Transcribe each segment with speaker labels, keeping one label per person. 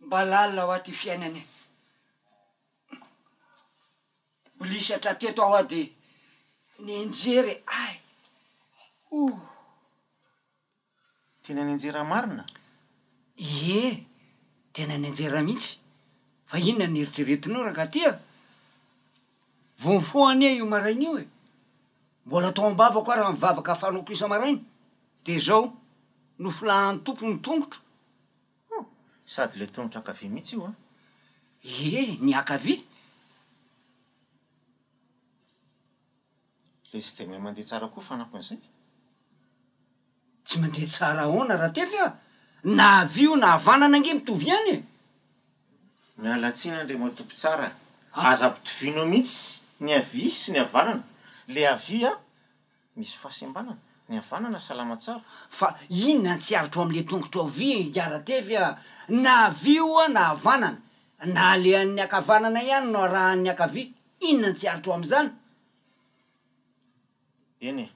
Speaker 1: Mba lalina hoa ty fiainana e! Mbolisatra teto aho hoa dia nianjera e! Ay! Ohh!
Speaker 2: Tena nianjera marina? Ie!
Speaker 1: Tena nianjera mihitsy! Fa inona no eritreretinao rangaty a! Vao nifoha anie io maraina io e! Mbola tao am-bavako ary ny vavaka fanaoko isa-maraina, dia izao nofolahan'ny Tompo ny tongotro. Oh!
Speaker 2: Sady ilay tongotra ankavia mihitsy io an! Ie,
Speaker 1: ny ankavia!
Speaker 2: Ilay tsy dia mahay mandeha tsara koa fanampin'izay.
Speaker 1: Tsy mandeha tsara ahoana Ratefy a! Na havia io na havanana ange mitovy ihany e!
Speaker 2: Miala tsiny Andriamatoa Mpitsara a! Aza ampitovianao mihitsy ny havia sy ny havanana. Ilay havia. Misy fahasembanana? Ny havanana salama tsara? Fa inona
Speaker 1: ny tsy aritro am le tongotro havia Iharatefy a! Na havia oa na havanana, na alehan'ny ankavanana ihany no arahan'ny ankavia, inona ny tsy aritro am'zany?
Speaker 2: Eny e!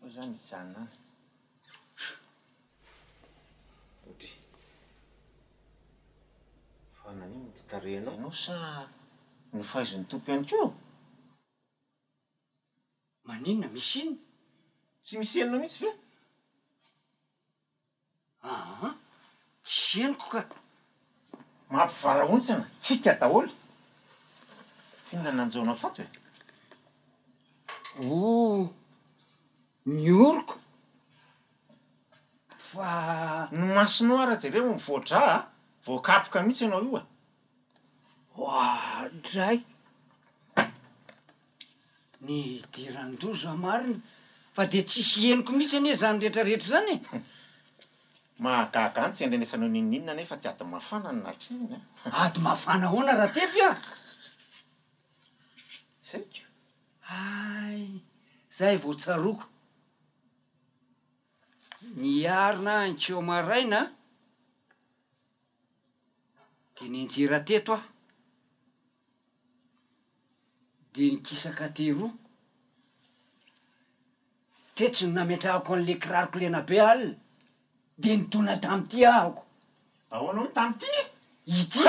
Speaker 2: Hoy zany hijanona any. Odry. Fa nanino ny tarehinao? Ianao sa nofaizin' ny Tompo ihany koa?
Speaker 1: Maninona? Misy inona? Tsy misy
Speaker 2: henonao mihitsy ve? Aa!
Speaker 1: Tsy henoko ka! Mampivarahontsana
Speaker 2: antsika daholo. Inona nanjaonao tato e?
Speaker 1: Ooh! Ny oroko! Fa. Ny masonao ara
Speaker 2: jereo mivoa-dra a! Voakapoka mihitsy ianao io e! Oadray!
Speaker 1: Nidiran-doza marina fa dia tsisy henoko mihitsy anie izany rehetra rehetra izany e!
Speaker 2: Mahagaga ahy ny tsy andrenesanao n'inon'inona anefa ity ady mafana no nahatrehina e! Ady mafana
Speaker 1: ahoana Ratefy a! Izay ko! Hay! Izay vao tsaroako. Niarina ahy ny kiho maraina a! Dia nianjera teto aho, dia nikisaka teroa. Tetsy no nametrahako an'ilay kiraroko lena be alina, dia nitona tamin'ity ahako. Ahoana hoy
Speaker 2: tamin'ity? Ity.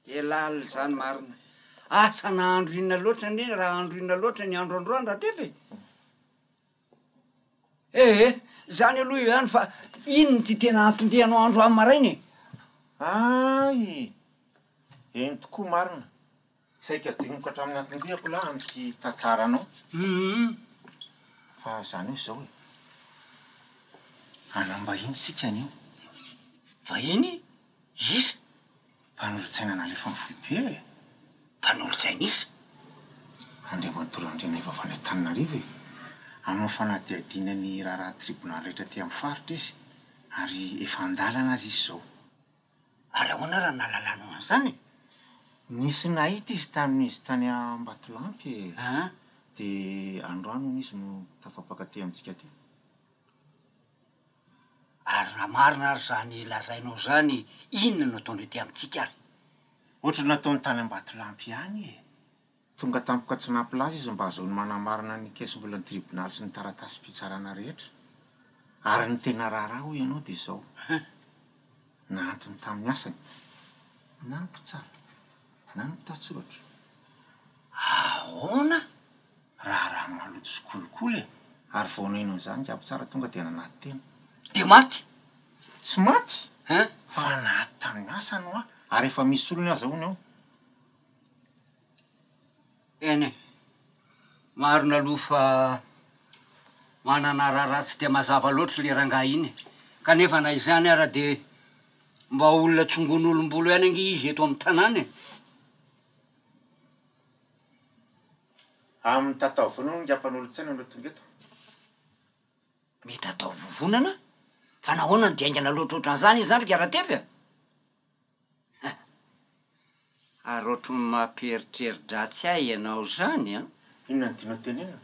Speaker 1: Dia lalina izany marina. Asa nahandro inona loatra anie raha handro inona loatra ny andro androany Ratefa e! Ee, zany aloha eo ihany fa iny no ty tena anton-dianao androany maraina e! Aayy!
Speaker 2: Eny tokoa marina, saika adinoko hatramin'ny anton-diako lahy amin'ity tantaranao. Humm! Fa zany hoe zao e, hanam-bahiny isika anio.
Speaker 1: Vahiny? Iza? Mpanolotsaina
Speaker 2: nalefan'ny foibe e! Mpanolotsaina
Speaker 1: iza? Andriamatoa Randrianaivo
Speaker 2: avy any Antananarivo e! Amin'ny fanadihadiana ny raharaha tribonaly rehetra aty amin'ny faritra izy ary efa an-dalana aza izy izao. Ary
Speaker 1: ahoana raha nahalalanao an'izany e? Nisy
Speaker 2: nahita izy tamin'izy tany Ambatolampy e! Dia androany hono izy no tafapaka aty amintsika aty.
Speaker 1: Ary raha marina ary izany lazainao izany, inona no ataony aty amintsika ary? Ohatry ny
Speaker 2: nataony tany Ambatolampy ihany e! Tonga tampoka tsy nampilaza izy mba hahazoany manamarina ny kesi-bolan'ny tribonaly sy ny taratasim-pitsarana rehetra. Ary ny tena raharaha hoy ianao dia izao, nahantony tamin'ny asany na ny mpitsara na ny mpitatsoratra. Ahoana?
Speaker 1: Raharaha
Speaker 2: maloto sy kolikoly e! Ary vao naino an'izany jiaby tsara tonga dia nanaty tena. Dia maty!
Speaker 1: Tsy
Speaker 2: maty Hein? fa naty tamin'ny asany hoa ary efa misy solony aza hono eo.
Speaker 1: Eny e! Marina aloha fa manana raharaha tsy dia mazava loatra le rangahy iny e! Kanefa na izany ara dia mba olona tsongon'olom-bolo ihany ange izy eto amin'ny tanàna e!
Speaker 2: Amin'ny tataovonana hono ngamba nolotsaina no tonga eto?
Speaker 1: Mety atao vovonana? Fa nahoana no dia haingana loatra ohatran'izany izy zany ry Garatefy a? Hein! Ary ohatran'ny mampieritreri-dratsy ahy ianao zany an! Inona no tianao
Speaker 2: tenenina?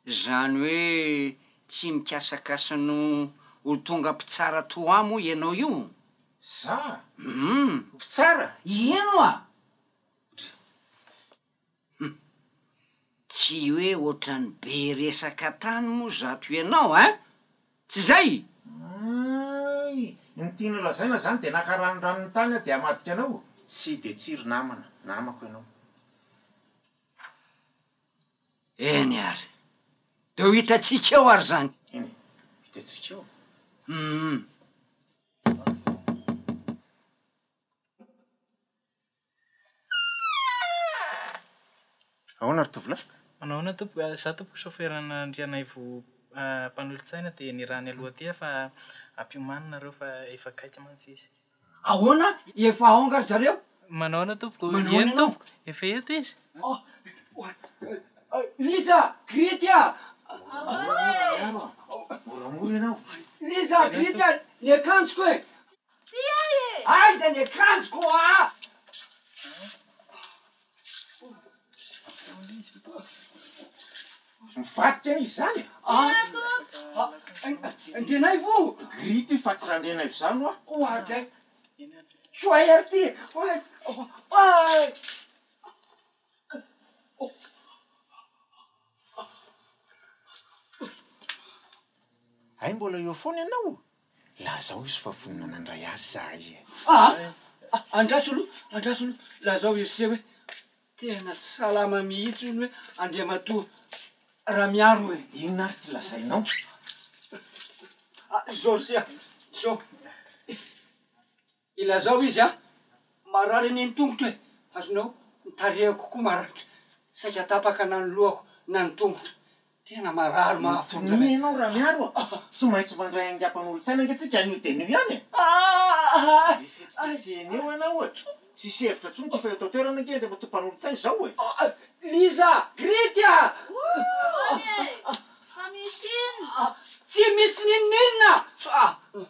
Speaker 1: Izany hoe tsy mikasakasa no ho tonga mpitsara toa ahy moa ianao io? Za?
Speaker 2: Hum! Mpitsara? Ino
Speaker 1: a! Misaotra. Hum. Tsy hoe ohatran'ny be resaka tany moa zato ianao a! Tsy izay? Ay!
Speaker 2: Ny tiany holazaina izany dia naka ranondranon'ny tany aho dia hamadika anao? Tsy dia tsy ry namana, namako ianao.
Speaker 1: Eny ary. Dia ho hitantsika eo ary izany. Eny e,
Speaker 2: hitantsika eo. Hum. Ahoana ry tovolahy? Manao ahoana tompoko?
Speaker 3: Izaho tompoko soferana Andrianaivo Mpanolotsaina dia niraha ny aloha aty fa hampiomany nareo fa efa akaiky mantsy izy. Ahoana?
Speaker 1: Efa ao nga ry zareo? Manao ahoana tompoko? Manao
Speaker 3: ahoana ianao? Eny tompoko, efa eto izy.
Speaker 1: Lisa! Grity a! Ahoana e!
Speaker 2: Moramora ianao. Lisa! Grity
Speaker 1: a! Ny akanjoko e! Tsy hay e! Aiza ny akanjoko aa!
Speaker 2: Mivadika an'iza izany e? Tiako!
Speaker 1: Ndrenaivo o! Gris ty fa
Speaker 2: tsy Randrenaivo izany hoa! Hoa dray!
Speaker 1: Tsy ho hay ary ty e!
Speaker 2: Hay mbola eo foana ianao? Lazao izy fa vonona nandray azy zahay e! Aa!
Speaker 1: Andraso aloha, andraso aloha, lazao iry se hoe tena tsy salama mihitsy hono hoe Andriamatoa Ramiaro e! Inona ary ty lazainao? Izao ry se a! Izao. Ilazao izy ah! Marary anie ny tongotro e! Azonao? Ny tarehiko koa maranitra, saika tapaka na ny lohako na ny tongotra. Tena marary mahafoja be. Minia ianao Ramiaro a!
Speaker 2: Tsy maintsy mandray haingampanolo-tsaina ange tsika anio dia anio ihany e! Aah! Be fihetsiketsehina eo ianao ohatra. Tsisy hevitra intsony ity fa eto an-toerana ange indray matoa mpanolo-tsaina izao e! Liza!
Speaker 1: Grity a! Ahoana e! Fa misy inona? Tsy misy n'inon'inona!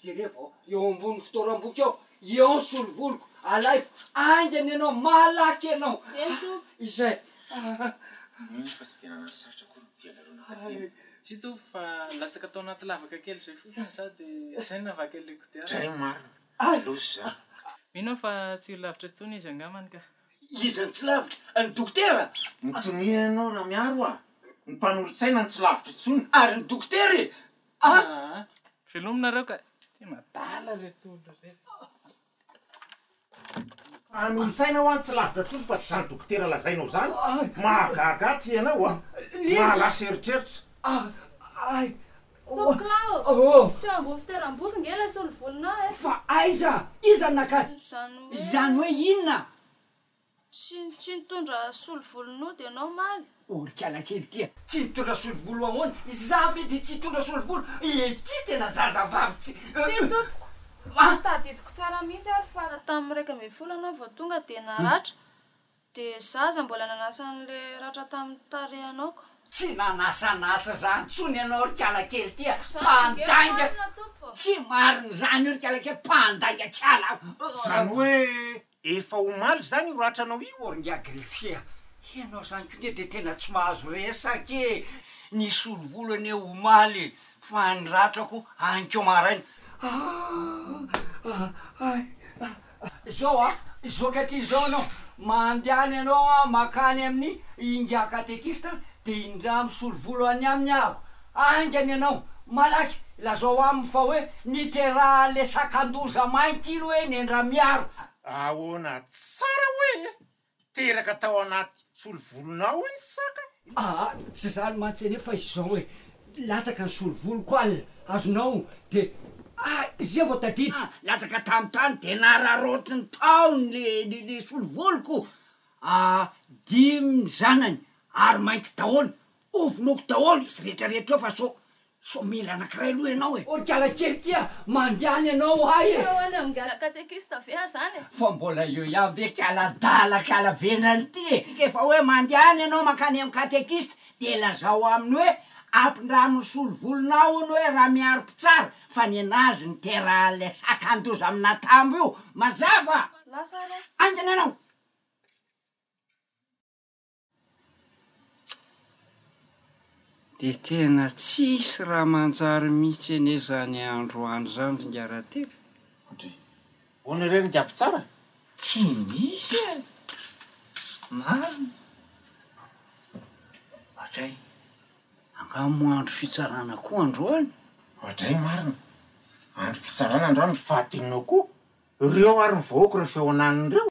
Speaker 4: Jerevo eo ambony fitoeram-boky ao, eo ny solovoloko, alaivo, haingana ianao, malaky ianao. Eny Tompo. Izay.
Speaker 2: Mino fa tsy dia nanano sarotra akory ny dia nareo nankatena. Tsy Tompo fa
Speaker 3: latsaka tao anaty lavaka kely izay fotsiny za dia zay no navaky an'ilay kodiarana. Dray marina.
Speaker 2: Loza izany. Mino aho fa
Speaker 3: tsy ho lavitra intsony izy angambany ka. Iza no tsy lavitra?
Speaker 4: Ny dokotera? Mitonia ianao
Speaker 2: Ramiaro a! Ny mpanolotsaina no tsy lavitra intsony. Ary ny dokotera e!
Speaker 4: Velominareo
Speaker 3: ka. Tena adala reto olona
Speaker 2: reto. Anonotsaina hoa tsy lavitra tsony fa tsy zany dokotera lazainao zany, mahagaga aty ianao a! Mahalasa eritreritra. Ay!
Speaker 5: Tompokolahy ô! Misy tsy eo ambony fitoeram-boky nge ilay solovolonao e! Fa aiza?
Speaker 4: Iza no naka azy? Izany hoe inona? Tsy
Speaker 5: tsy nitondra solovolon'ody ianao omaly? Orikala kely ity
Speaker 4: a! Tsy nitondra solovolo ahoana? Izaho ve dia tsy hitondra solovolo? Ity tena zazavavy tsy. Tsia
Speaker 5: tompoko! Tsy tadidiko tsara mihitsy ary fa tamin'ny iraika ambin'ny folo ianao vao tonga dia naratra, dia izaho aza mbola nanasa an'ilay ratra tamin'ny tarehinao ko. Tsy nanasanasa
Speaker 4: izany intsony ianao orikala kely ity a! Mpandainga. Tsy marina izany orikala kely, mpandainga tsy halako. Izany hoe
Speaker 2: Efa omaly izany io ratranao io ô ringahy greffier a!
Speaker 4: Ianao izany koa nge dia tena tsy mahazo resaka e! Nisolo volo anie omaly fa ny ratrako any koa maraina. Izao a, izao ankehitriny izao ianao mandehana ianao mankany amin'ny ingahy katekista dia indray misolo volo any aminy aho. Aingana ianao, malaky lazao aminy fa hoe niteraha le sakandoza mainty iny hoe nendra miaro. Ahoana
Speaker 2: tsara hoe teraka tao anaty solovolonao iny saka? Aa tsy zany mantsy
Speaker 4: anie fa izao e, latsaka ny solovoloko al, azonao de aa izay vao tadidy. Aa latsaka tam tany de nararaotiny tao ny le solovoloko aa dimy ny zanany ary mainty daholo Ho vonoiko daholo izy rehetra rehetra eo fa sao sao mila anakiray aloha ianao e. Orikala kely tia mandehana ianao ahy e. Sao any amin'ny gara catéchiste
Speaker 5: ve aza any e. Fa mbola eo ihany ve
Speaker 4: kala adala kala vendrana ity e. Rehefa hoe mandehana ianao mankany amin'ny catéchiste dia lazao aminy hoe ampindrano ny solovolonao hono hoe Ramiaro mpitsara fa nenazy niterahan'ilay sakandoza amina tambo io. Mazava? Lasa ary aho.
Speaker 5: Aingana ianao.
Speaker 4: Dia tena tsisy raha manjary mitsy anie zany andro any zany ry Ngarateka. Kodry.
Speaker 2: Hono re ry Ngaby tsara? Tsy
Speaker 4: misy e! Marina. Oadray. Angaha moa andro fitsarana koa androany? Oadray marina.
Speaker 2: Andro pitsarana androany ny faha dimy noa koa. Reo ary ny vahoako reo feonaniny reo.